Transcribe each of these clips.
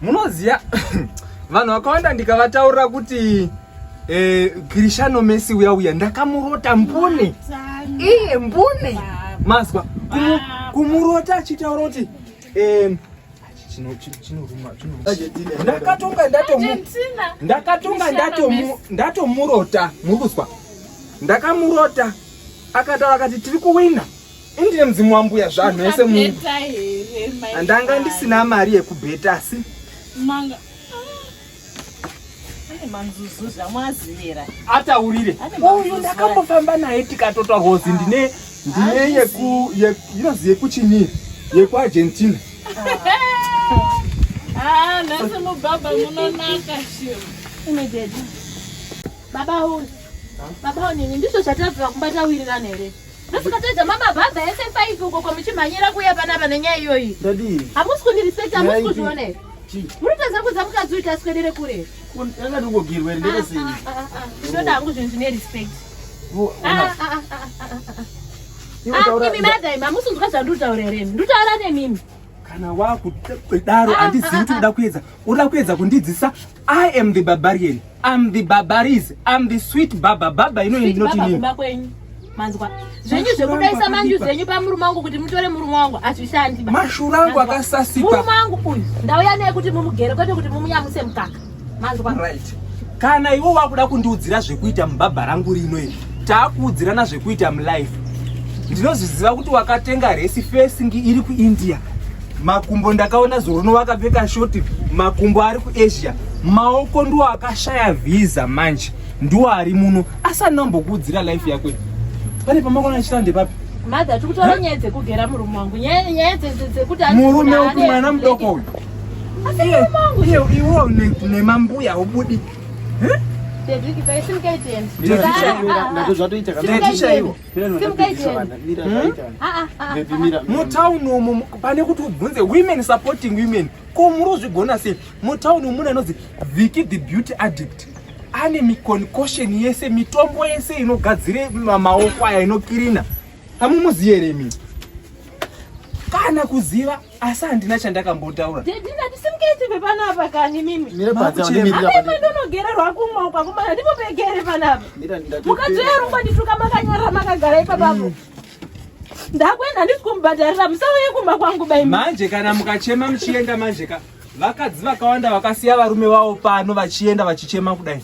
munoziva vanhu vakawanda ndikavataurira kuti eh, Cristiano Messi uya uya ndakamurota mbune iye mbune mazwa kumurota achitaura kuti eh, ndakatonga ndakatonga ndatomurota murikuzwa ndakamurota akataura akati tiri kuwina ndine mudzimu wambuya zvanhu ese munhu handanga ndisina mari yekubheta asi ataurire uyu ndakambofamba naye tikatota hozi ndine ndine yeku inozi yekuchini yekuargentina ah, nhasi mubaba munonaka baba uyu baba unini ndizvo zvatazira kumba tawirirana here Musikatoedza mama bhabha yese faifi uko kwamuchimhanyira kuya panapa nenyaya iyoyi. Dadii. Hamusi kundiriseka hamusi kuzviona here. Muri kuedza kuudza mukadzi uyu taswedere kure. Anga ndingogirwa here ndega sei. Ndoda hangu zvinhu zvine respect. Imi madai hamusi kunzwa zvandiri kutaura here. Ndiri kutaura nemimi. Kana wakudaro handizivi kuti uda kuedza. Uda kuedza kundidzisa I am the barbarian. I'm the barbaries. I'm the sweet baba. Baba ino ino tini. Manzwa. Zvenyu zvekudaisa manju zvenyu pamurume wangu kuti mutore murume wangu azvishandi. Mashura angu akasasika. Murume wangu uyu ndauya naye kuti mumugere kwete kuti mumunyamuse mukaka. Manzwa. Right. Kana iwe wakuda kundiudzira zvekuita mubaba rangu rino iri. Takuudzirana zvekuita mulife. Ndinozviziva kuti wakatenga resi fesingi iri kuIndia. makumbo ndakaona zorono vakapfeka shoti makumbo ari kuasia maoko ndiwo akashaya vhiza manje ndiwo ari muno asi anambokuudzira life yako pane pamakona achita ndepapi mother tiri kutaura nyaya dzekugera murume wangu nyaya dzekuti murume upi mwana mudoko uyu iwo nemambuya ubudi ndezvatoita mutown hmm? umu pane kuti ubvunze women supporting women ko muri uzvigona sei mutown umu mune anonzi viki the beauty addict ane miconcussion yese mitombo yese inogadzire maoko aya inokirina hamumuziye remi kana kuziva asi handina chandakambotaura daddy ndatisimuketi pepanapa kani mimi mire panze wandimirira pano mimi ndonogererwa kumwa uko akomana ndipo pegere panapa mira ndati mukadzi yarumba ndituka makanyarara makagara ipapapo mm. ndakwenda handisi kumubhadharira musauye kumba kwangu bai manje kana mukachema muchienda manje ka vakadzi vakawanda vakasiya varume vavo pano vachienda vachichema kudai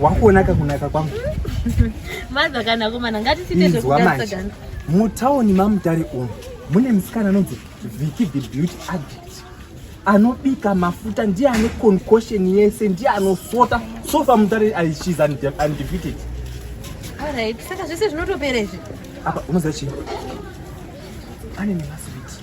Wakuona kakunaka kwangu. Maza kana komana ngatisite zvekudansa Mutaoni mamutare umu mune musikana anonzi Vicky the Beauty Addict. Anobika mafuta ndiye ane concussion yese ndiye anosota so far mutare she's undefeated. All right, saka zvese zvinotopera izvi. Apa unoziva chii? Pane nemaswiti.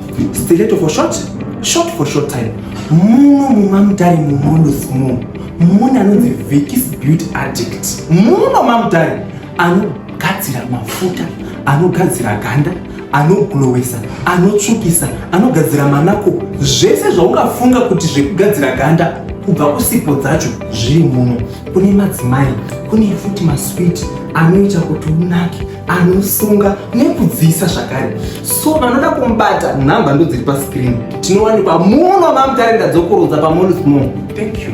Stiletto for short, short for short time. Muno mumamutare mumodos muno mune anonzi Vicky's Beauty Addict. Muno mamutare anogadzira mafuta, anogadzira ganda, anoglowesa, anotsvukisa, anogadzira manako, zvese zvaungafunga kuti zvekugadzira ganda kubva kusipo dzacho zviri muno. Kune madzimai, kune futi maswiti anoita kuti unake. anosunga nekudziisa zvakare so vanoda kumubata nhamba ndodziri pascreen tinowanikwa muno mamutarenda dzokurodza pamonismo thank you